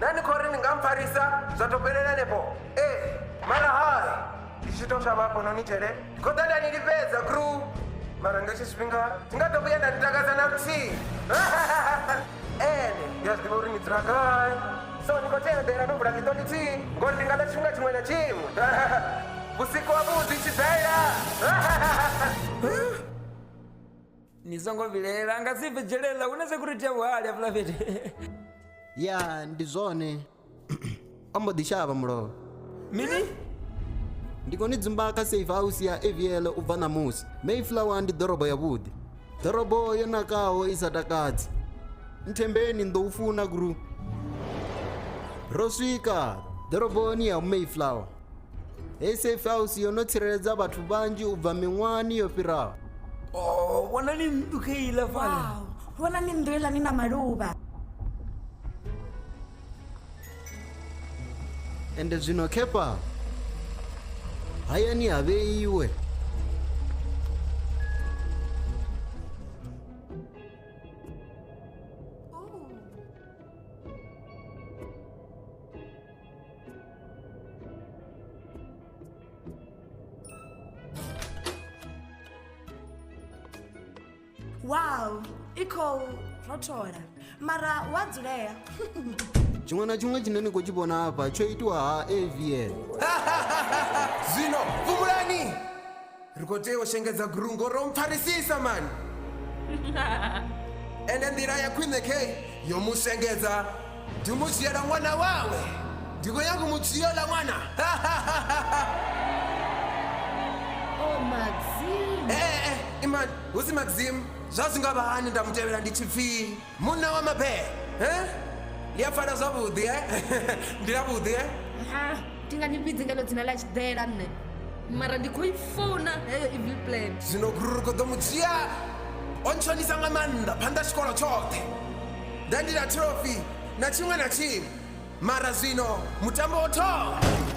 na ni khou ri ni nga mpfarisa zwa tou fhelela henefho ee mara hai ndi tshi tou thavha hafhanoni dzhele ndi khou ḓa nda ni lifhedza kru mara nga hetshi tshifhinga ndi nga ḓo vhuya nda ni takadza na luthihi ene ndi a zwi ḓivha uri ni dzula gai so ni khou tea u ḓela no vula ḽiṱo ḽithihi ngori ndi nga ḓa tshifhinga tshiṅwe na tshiṅwe vhusiku ha vhuḓi tshidaela ni songo vhilela a nga si bve dzhelela hu na security ya vhuhali hafhaḽa fhethu ya ndi zwone o mbo ḓi shavha mulovha mini ndi khou ni dzumba kha safe house ya avl u bva ṋamusi mayflower ndi ḓorobo yavhuḓi ḓorobo yo nakaho i sa takadzi nthembeni ni ḓo u funa guru ro swika ḓoroboni ya mayflower Hei safe house yo no tsireledza vhathu vhanzhi u bva miṅwahani yo fhiraho Oh, vhonani nnḓu kha iḽa fhala Wow, vhona ni nnḓu iḽa ni na maluvha. ende zwino kefa hayani ha vheiwe wow i khou rothola mara hu a dzulea tshiṅwe na tshiṅwe tshine ni khou tshi vhona hafha tsho itiwa ha avn zwino fumulani ri khou tea u shengedza guru ngo ro mpfarisisa mani ende nḓila ya khwine kei yo mu shengedza ndi mu dzhiela ṅwana wawe ndi khou nyanga u mu dzhia ḽa ṅwana oh, maxim ee eh, eh, imani hu si maxim zwa zwi nga vha hani nda mu tevhela ndi tshipfii munna wa mabee eh? ḽi a pfala zwavhuḓi eh? ndi ḽavhuḓi eh? ha ndi nga ni vhidzi ngalo dzina ḽa tshiḓela nṋe mara ndi khou i funa heyo evil plan zwino gururu ko ḓo mu dzhia o ntshonisa nga maanḓa phanḓa tshikolo tshoṱhe nda ndi na trophy na tshiṅwe na tshiṅwe mara zwino mutambo wo thoma